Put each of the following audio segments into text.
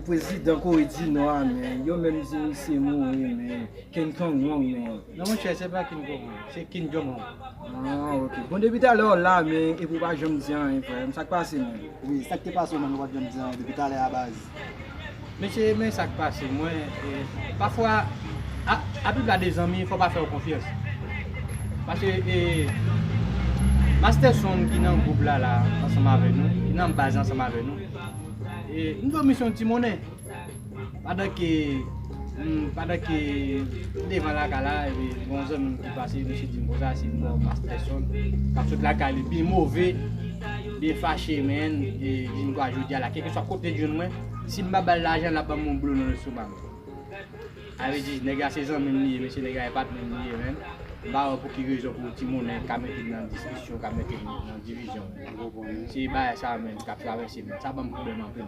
Prezidan Kore di Nò a men, yo menm di misye mouri men, Ken Tong Wong men. Non mwen chè, se pa Ken Tong Wong, se Kin Jong Wong. Ah ok, bon depi talè w la men, epi w pa janm di anyen frè m, sa k pase menm? Wi sak te pase w menm ou pat janm di anyen depi talè a baz. Mesye men sak pase mwen pafwa aplipla de zanmi fò pa fèw konfyans paske e masterson ki nan gwoup la la ansanm avè nou ki nan baz la ansanm avè nou e nou dwe mis yon ti monnen. Pandan ke pandan ke m devan lakay la epi gon zanmim ki pase misye dim konsa se mò Master Son kap sot lakay li byen move, byen fache menn e dim kwa jodia la kèlkeswa kote li jwenn mwen si m pa bal lajan lap banm yon blo nan lestomak li. A vle di nèg la se zanmim li ye mesye nèg la e patnèm li ye menn m pa wè pou ki rezon pou ti monnen ka mete m nan diskisyon ka mete m nan divizyon. Se bagay sa menn kap travèse menn sa banm pwoblèm anpil.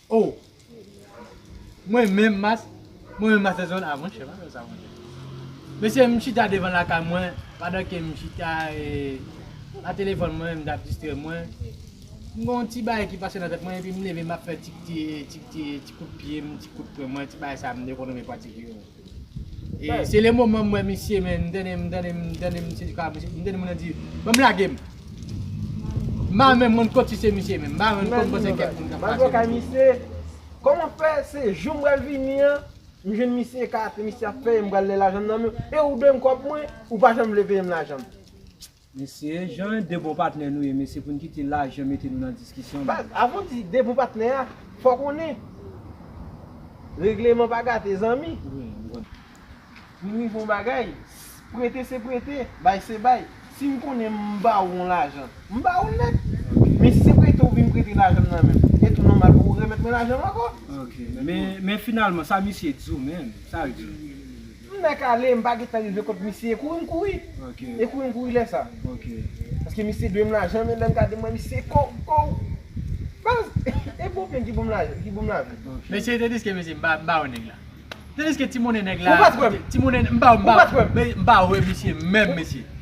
Oh mwen menm mas mwen menm mastè zòn a mwen chè bagay sa mwen mesye m chita devan lakay mwen pandan ke m chita a telefòn mwen m tap distrè mwen m gon ti bagay ki pase nan tèt mwen epi m leve map fè ti ti ti ti kout pyem ti kout pwen mwen ti bagay sa m dekonnen mwen pratike yo. E se le moman m wè misye men, m tande m tande m tande misye di ka misye, m tande moun nan di, banm lage m. M pa menm konn kot si se misye menm, m pa menm konn panse kèk moun k ap pase. M rive kay misye, kòman fè se jou m pral vini an, m jwenn misye ekate, misye ap peye m pral lè lajan m nan men w, e ou dwe m kòb mwen, ou pa janm vle peye m lajan m. Mesye jan de bon patnè nou ye mesye poun kite lajan mete nou nan diskisyon menm. Baz avan w di de bon patnè a fò konnen regleman pa gate zanmi. Poun rive yon bagay prete se prete bay se bay sim konnen m ba ou yon lajan m ba ou l nèt men si se prete ou vin prete lajan m nan menm e tou nòmal pou ou remèt mwen lajan m ankò. Ok men finalman sa misye di w menm sa l di w. M mèt ale m pa gentan rive kot misye e kouri m kouri e kouri m kouri lè sa paske misye dwe m lajan men lè m gade m wè misye kòw kòw baz e bon men ki bon m lajan. Mesye te diske mesye m ba yo nèg la te diske ti monnen nèg la ti monnen m ba yo m ba yo m ba yo e misye menm mesye.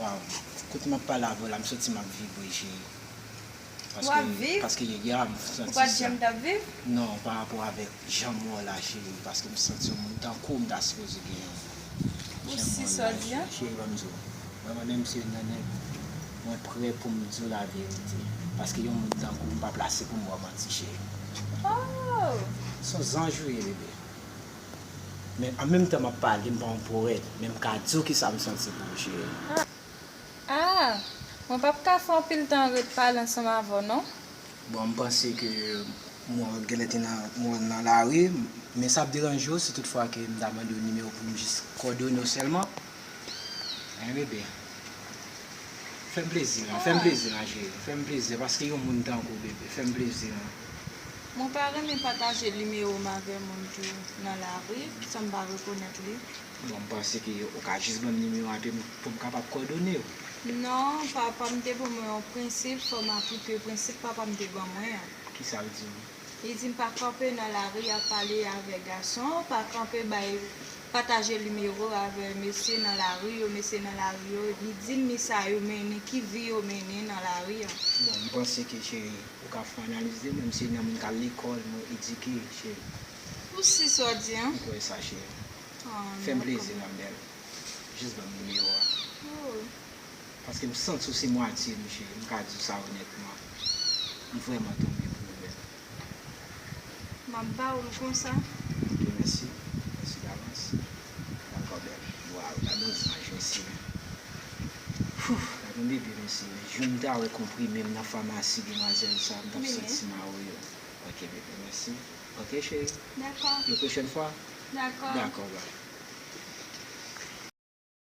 Waw kote map pale avèw la m santim ap vibre cheri paske paske yè a m santi non pa rapò avèk janm wèw la cheri paske m santi yon moun tankouw m ta sipoze gen yon moun janm wèw la cheri cheri banm diw mwen mwen menm se nènè mwen prè poum diw la verite paske yon moun tankouw m pa plase poum wèw manti cheri son zanj ou ye bebe. Men an menm tan map pale m pa yon powèt men m ka di w kisa m santi pou w cheri. Ah ah mwen pap ka fè anpil tan ret pale ansanm avè w non. Bon m panse ke mwen wè w t genlè te nan mwen wè w nan lari men sa ap deranje w si tout fwa ke m ta mande w nimewo pou m jis kòdone w sèlman? Hein bébé. Fèm plezi lan, fèm plezi lan chéri, fèm plezi lan paske yon moun tankouw bébé, fèm plezi lan. Mwen pa renmen pataje nimewo m avè moun ki nan lari san m pa rekonèt li. Bon m panse ke ou ka jis banm nimewo a pou m kapab kòdonew. Non, papa m te ban mwen yon prensip, fò m aplike prensip papa m te ban mwen an. Kisa l di w? Li dim pa kanpe nan lari ap pale avè gason, pa kanpe bay pataje nimewo avè mesye nan lari yo, mesye nan lari yo, li dim ni sa yo mennen, ki vi yo mennen nan lari an. Bon, m panse ke cheri, ou ka fon analiz de mwen, m se nan moun kal lekòl, mwen edike cheri. Ou si sa w di an? M kwè sa cheri. Fè m plezi ma belle. Jis ban m nimewo a. Oh. Paske m santi w se mwatye m jee, m ka di w sa onètman. M vrèman tonbe pou ou bèl. M ap ba ou l konsa. Ok mèsi. Mèsi davans. Dakò bèl. Waw gadon zanj mesye. Hoo gadon bebe mesye men jou m ta wè konprime m nan famasi demwazèl sa m t ap santi m a oyo. Ok bebe mèsi. Ok cheri. Dakò. Yon pwochèn fwa? Dakò. Dakò bby.